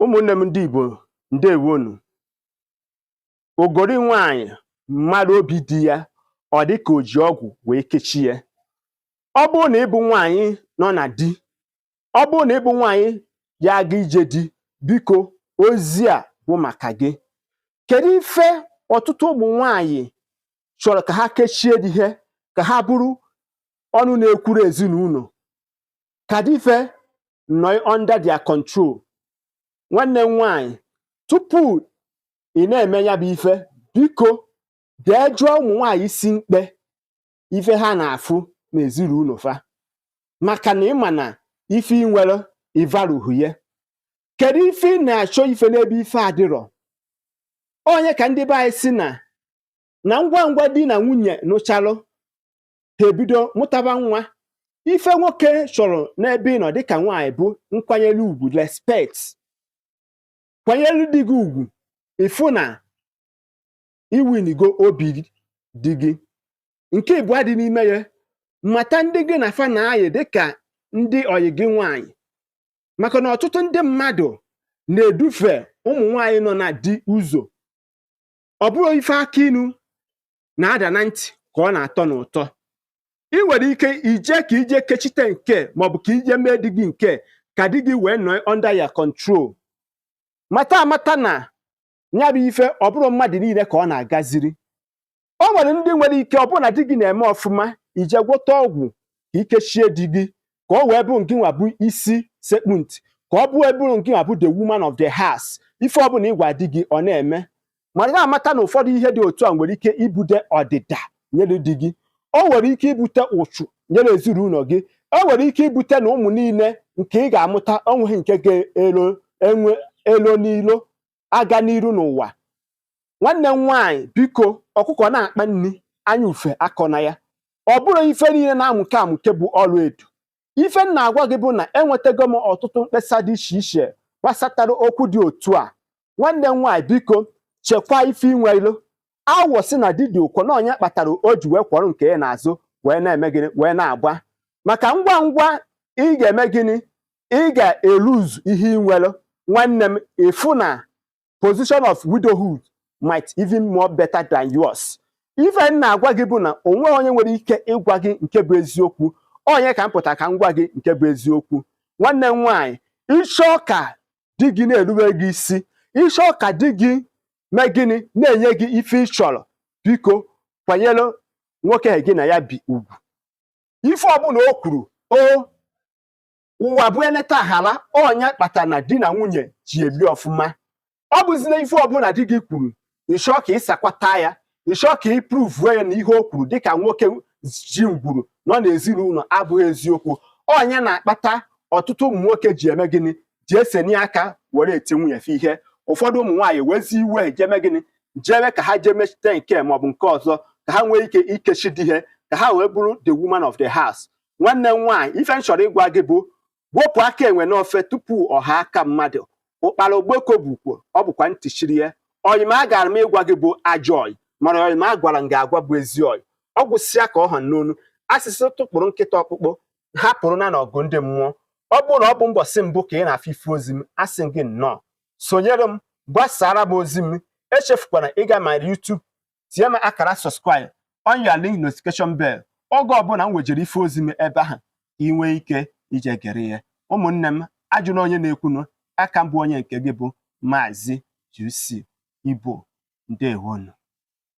ụmụnne m ndị Igbo ndewonu ogori nwanyị mara obi di ya ọ dị ka o ji ọgwụ wee kechie ya ọ bụrụ na ị bụ nwanyị nọ na di ọ bụrụ na ị bụ nwanyị ya-aga ije di biko ozi a bụ maka gị kedu ife ọtụtụ ụmụ nwanyị chọrọ ka ha kechie di ha ka ha bụrụ ọnụ na-ekwuru ezinụlọ ka di fa nọ under their control nwanne m nwaanyị tupu ị na-eme ya bụ ife biko jee jụọ ụmụ nwaanyị isi mkpe ife ha na-afụ n'ezinụlọ fa maka na ị ma na ife ị nwere ị marọ uru ya kedu ife ị na-achọ ife n'ebe ife adịrọ ọ nya ka ndị be anyị sị na na ngwa ngwa di na nwunye nụchalụ ha ebido mụtaba nwa ife nwoke chọrọ n'ebe ị nọ dịka nwaanyị bụ nkwanyere ugwu respect kwanyere di gị ugwu ị fụ na i winigo obi di gị nke ịbụọ dị n'ime ya mata ndị gị na fa na-ayị dịka ndị ọyị gị nwaanyị maka na ọtụtụ ndị mmadụ na-edufe ụmụ nwaanyị nọ na di ụzọ ọ bụrọ ife akị inu na-ada na ntị ka ọ na-atọ n'ụtọ ị nwere ike ije ka i je kechite nke a maọbụ ka i je mee di gị nke a ka di gị wee nọọ under your control mata amata na ya bụ ife ọ bụrọ mmadụ niile ka ọ na-agaziri o nwere ndị nwere ike ọ bụrụ na di gị na-eme ọfụma i je gwọta ọgwụ ka i kechie di gị ka o wee bụrụ ngị nwa bụ isi sekpu ntị ka o wee bụrụ ngị nwa bụ the woman of the house ife ọbụla ị gwa di gị ọ na-eme mana ị ya-amata na ụfọdụ ihe dị otu a nwere ike ibute ọdịda nyere di gị o nwere ike ibute ụchụ nyere ezinụlọ gị o nwere ike ibute na ụmụ niile nke ị ga-amụta o nweghị nke ga-elo enwe elo n'ilo aga n'iru n'ụwa nwanne m nwaanyị biko ọkụkọ na-akpa nri anya ufe akọna ya ọ bụrọ ife niile na-amụke amụke bụ ọla edo ife m na-agwa gị bụ na enwetago m ọtụtụ mkpesa dị iche iche gbasatara okwu dị otu a nwanne m nwaanyị biko chekwaa ife i nwelu awọ sị na di dị ụkọ na ọ nya kpatara o ji wee kwọrọ nke ya n'azụ wee na-eme gịnị wee na-agba maka ngwa ngwa ị ga-eme gịnị ị ga-eluzu ihe ị nwere nwanne m ị fụ na position of widowhood might even more better than yours ife m na-agwa gị bụ na o nweghị onye nwere ike ịgwa gị nke bụ eziokwu ọ nya ka m pụta ka m gwa gị nke bụ eziokwu nwanne m nwaanyị ị chọọ ka di gị na-erube gị isi ị chọọ ka di gị mee gịnị na-enye gị ife ị chọrọ biko kwanyere nwoke gị na ya bi ugwu ife ọbụla o kwuru o ụwa bụ eleta aghara ọ nya kpata na di na nwunye ji ebi ọfụma ọ bụzị na ife ọbụla di gị kwuru ị chọọ ka ị sakwata ya ị chọọ ka ị pruvuo ya na ihe o kwuru dịka nwoke ji ngwuru nọ n'ezinụlọ abụghị eziokwu ọ nya na-akpata ọtụtụ ụmụ nwoke ji eme gịnị ji esenye aka were eti nwunye fa ihe ụfọdụ ụmụ nwaanyị wezi iwe jeme gịnị jebe ka ha jee mechite nke a maọbụ nke ọzọ ka ha nwee ike ikechi di ha ka ha wee bụrụ the woman of the house nwanne m nwaanyị ife m chọrọ ịgwa gị bụ wepụ aka enwe n'ofe tupu ọ ghọọ aka mmadụ ụkpara okpoko bukwo ọ bụkwa ntị chiri ya ọyị m agaara m ịgwa gị bụ ajọ ọyị mana ọyị m agwara m gị agwa bụ ezi ọyị ọ gwụsịa ka ọ ha n'ọnụ a sị sị tụpụrụ nkịta ọkpụkpụ hapụrụ nya n'ọgụ ndị mmụọ ọ bụrụ na ọ bụ mbọsị mbụ ka ị na-afụ ife ozi m asị gị nnọọ sonyere m gbasaara m ozi m echefukwana ịga my YouTube tinye m aka na subscribe on your link notification bell oge ọbụla m wejere ife ozi m ebe ahụ ị nwee ike ije gere ya ụmụnne m ajụna onye na-ekwunu aka m bụ onye nke gị bụ maazị GC Igbo ndeewonụ